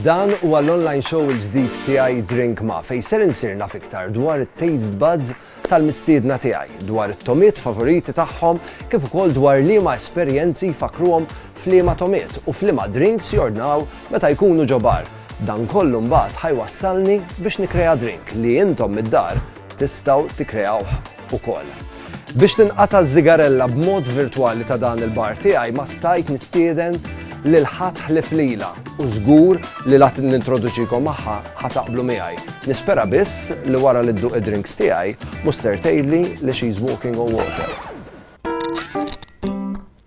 Dan huwa l-online show il-ġdid tiegħi Drink Ma fejn ser insir naf iktar dwar it-taste buds tal-mistiedna tiegħi, dwar it-tomiet favoriti tagħhom kif ukoll dwar liema esperjenzi fakruhom f'liema tomiet u f'liema drinks jordnaw meta jkunu ġobar. Dan kollu mbagħad ħa jwassalni biex nikkrea drink li intom mid-dar tistgħu tikkreawh ukoll. Biex tinqata' ż-żigarella b'mod virtwali ta' dan il-bar tiegħi ma stajt nistieden lil ħadd ħlief lilha u żgur li la nintroduċikom magħha ħa taqblu miegħi. Nispera biss li wara li dduq id-drinks tiegħi mhux ser tgħidli li she's walking on water.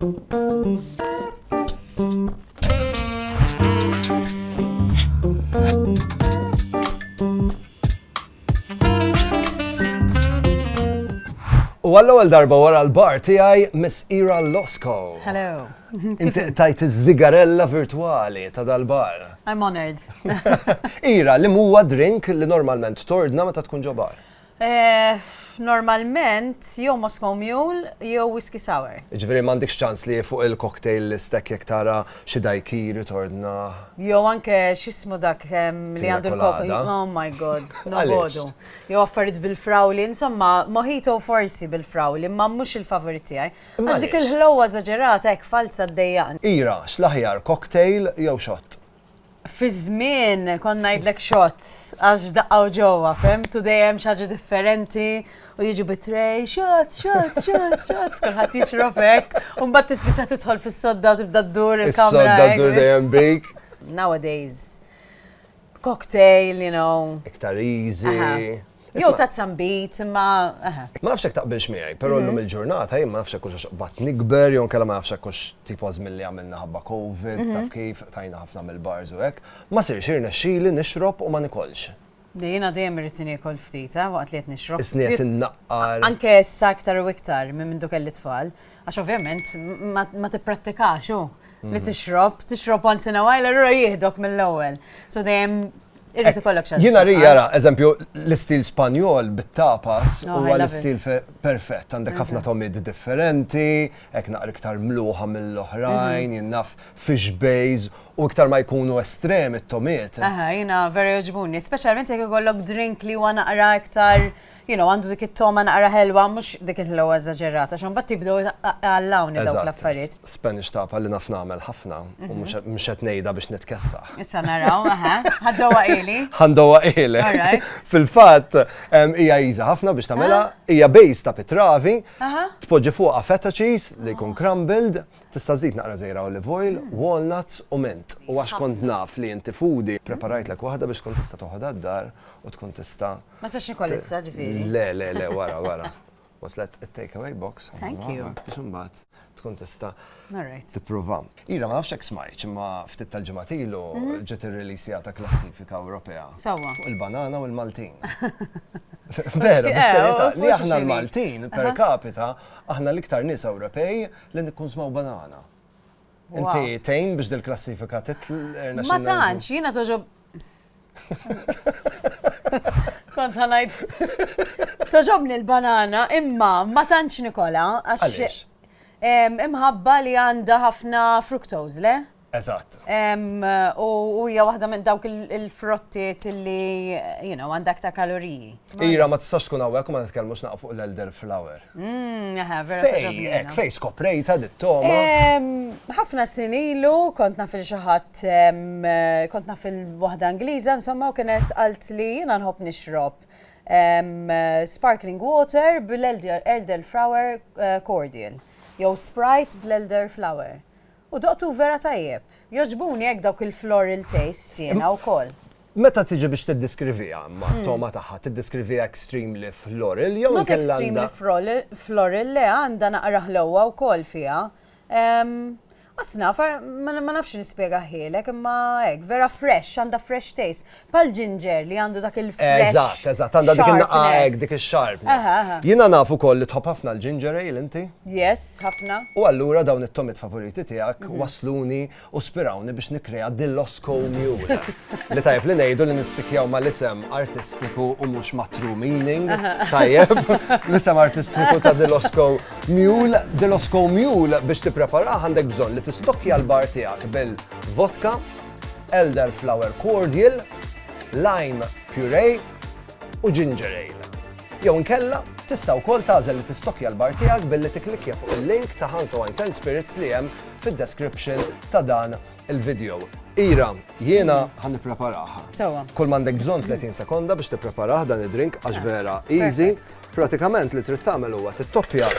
U għall-ewwel darba wara l-bar tiegħi Miss Ira Losco. Hello. Inti tajt iż-żigarella virtwali ta' dal-bar. I'm honored. Ira, li huwa drink li normalment tordna meta tkun ġo bar? Normalment jew Moscow Mule jew Whisky Sour. Jiġifieri m'għandikx ċans li fuq il-cocktail list hekk jekk tara xi daiquiri tordna. Jew anke x'ismu dak li għandu l-cocktail. Pina colada. Oh my God, nobogħdu. Jew affarijiet bil-frawli, insomma mojito forsi bil-frawli imma mhux il-favorit tiegħi. Għax dik il-ħlewwa eżaġerata hekk falza ddejjaqni. Ira, x'l-aħjar cocktail jew shot? Fi żmien kont ngħidlek shots għax daqqgħu ġewwa, fehmtu dejjem xi ħaġa differenti u jiġu bi tray, shots, shots, shots, shots, kulħadd jixrob hekk, u mbagħad tispiċċa tidħol fis-sodda u tibda ddur il-kamra. Is-sodda ddur dejjem bik. Nowadays, cocktail, you know. Iktar easy. Jew ta' zambit, ma. Ma nafx hekk taqbilx miegħi, però mhm. llum il-ġurnata jien ma nafx hekk hux bat nikber jew kellha ma nafx hekk hux tipo żmien li għamilna ħabba COVID, mhm. taf kif tajna ħafna mill-bars u hekk, ma sirx irnexxili nixrob u ma nikolx. Dejjina dejjem irrid niekol ftit, eh, waqt li qed nixrob. Isniet innaqqar. Anke issa iktar u iktar minn minn kelli tfal, għax ovvjament ma tipprattikax hu li mhm. tixrob, tixrob once in a while, allura jihdok mill-ewwel. So dejjem Irrid ikollok xi. Jiena ri jara, eżempju, l-istil Spanjol bit-tapas oh, huwa l-istil perfett, għandek mhm. ħafna tomid differenti, hekk naqra iktar mluħa mill-oħrajn, mhm. jinnaf fish bays u iktar ma jkunu estrem it-tomiet. Aha, jiena vera joġbuni, speċjalment jekk ikollok drink li huwa naqra iktar. Uh, you know, għandu dik it-toma naqra ħelwa, mhux dik il-ħelwa eżaġerata, x'għan bat tibdew għallawn dawk l-affarijiet. Spanish tapa li naf nagħmel ħafna, u mhm. mhux qed ngħidha biex nitkessa. Issa naraw, aha, ħaddowa ili. Ħandowa ili. Fil-fatt hija iża ħafna biex tagħmilha, ah. hija bejs ta' pitravi, tpoġġi fuqha feta cheese li jkun crumbled, tista' żid naqra żejra olive oil, mm. walnuts u mint. U għax kont naf li inti foodie, preparajt l waħda biex tkun tista' toħodha d-dar u tkun tista' Ma sax nikol issa ġifieri. Le, le, le, wara, wara. Waslet it-takeaway box. Thank you. Biex imbagħad tkun tista' tipprova. Ira, ma nafx hekk smajt, imma ftit tal-ġimgħat ilu mhm. ġiet irreleasija ta' klassifika Ewropea. Sewwa. Fuq il-banana u l-Maltin. Vera, bis-serjetà eh, li aħna l-Maltin per capita aħna l-iktar nies Ewropej li nikkun smaw banana. Inti tejn biex dil-klassifika titl. Ma tantx, jiena toġob Kont ħanajt. Toġobni l-banana, imma ma tantx Nikola, għax imħabba li għandha ħafna fructose, le? Eżatt. U hija waħda minn dawk il-frottiet li, you know, għandha aktar kaloriji. Ira, ma tistax tkun hawnhekk ma nitkellmux naqfu l-elder flower. Mmm, aha, vera. Fej, ek, fej skoprejta dit-toma. Ħafna snin ilu, kont naf il-xaħat, kont naf il-wahda Ingliża, insomma, u kienet għalt li jina nħob nixrob sparkling water bil-elder flower eh, cordial, jew Sprite bl-elder flower. U doqtu vera tajjeb. Jogħġbuni hekk dawk il-floral tastes jiena wkoll. Meta tiġi biex tiddiskriviha imma t-togħma tagħha, tiddiskriviha extremely floral jew inkella għandha. Not extremely floral, le għandha naqra ħlewwa wkoll fiha. Asnaf, ma nafx nispjegahielek imma hekk, vera fresh, għandha fresh taste. Pal ġinġer li għandu dak il-fresh. Eżatt, eżatt, għandha dik il-naqqa hekk, dik ix-sharpness. Jiena naf ukoll li tħobb ħafna l-ginger ale inti? Yes, ħafna. U allura dawn it-tomiet favoriti tiegħek mhm. wasluni u spirawni biex nikkrea Dillosco Mule. Li tajjeb li ngħidu li nistikjaw mal-isem artistiku u mhux ma' true meaning. Tajjeb, l-isem artistiku ta' Dillosco Mule. Dillosco Mule biex tippreparaha għandek bżonn li tistokja l-bar tiegħek bil-vodka elderflower cordial, lime puree u ginger ale. Jew inkella, tista' wkoll tagħżel li tistokkja l-bar tiegħek billi tikklikkja fuq il-link ta' Hansa Wines and Spirits li hemm fid-description ta' dan il-video. Ira, jiena ħan nippreparaha. Sewwa. Kull m'għandek bżonn 30 sekonda biex tippreparah dan id-drink għax vera easy. Pratikament li trid tagħmel huwa tittoppja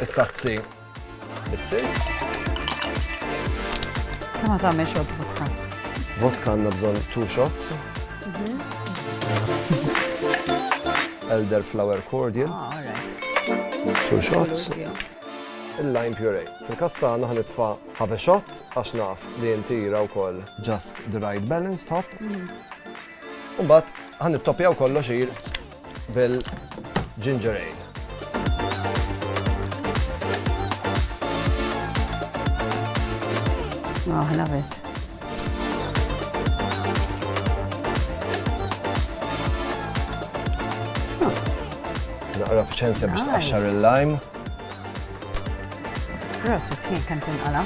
t-tazzi Kemm ma tagħmel shots vodka? Vodka għandna bżonn two shots. Mhm. Elder flower cordial. Ah, all right. Two shots il-lime puree. Fil-kas tagħna ħanitfa' ħave shot għax naf li inti u wkoll just the right balance top. Mm. U mbagħad ħa nittoppjaw kollox ir bil-ginger ale. Oh, I love it. Naqra bċensja biex tqaxxar il-lime. Rosa, tħin kemm tinqala'.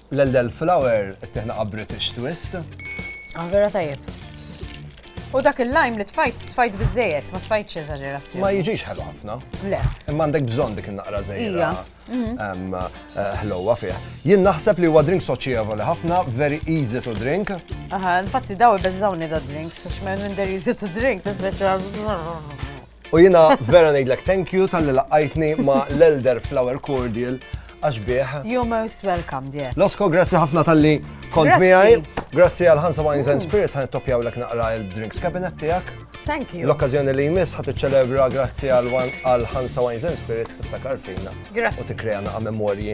L-Eldel Flower ittieħna għal British Twist. Ah, vera tajjeb. U dak il-lajm li tfajt, tfajt bizzejet, ma tfajtx eżagerazzjoni. Ma jiġix ħelu ħafna. Le. Imma għandek bżonn dik il-naqra zejra. Mhm. Eh, ħlowa fih. Jien naħseb li huwa drink soċjevoli ħafna, very easy to drink. Aha, infatti daw ibeżżawni da drink, sax minn minn der easy to drink, tisbeċa. U jina vera ngħidlek thank you tal-li laqqajtni ma' l-Elder Flower Cordial għax bieħ. You're most welcome, dear. Losko, grazzi ħafna tal-li kont miegħi. Grazzi għal Hansa Wines and Spirits ħan toppjaw l naqra il-drinks cabinet tiegħek. Thank you. L-okkazjoni li jmiss ħat iċċelebra grazzi għal Hansa Wines and Spirits tiftakar fina. Grazzi. U tikreja naqa' memorji.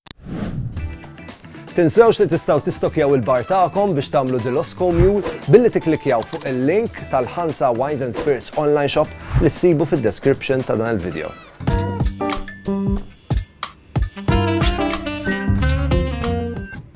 Tinsewx li tistgħu tistokkjaw il-bar tagħkom biex tagħmlu Dilosco Mule billi tikklikjaw fuq il-link tal-Ħansa Wines and Spirits online shop li ssibu fid-description ta' dan il-video.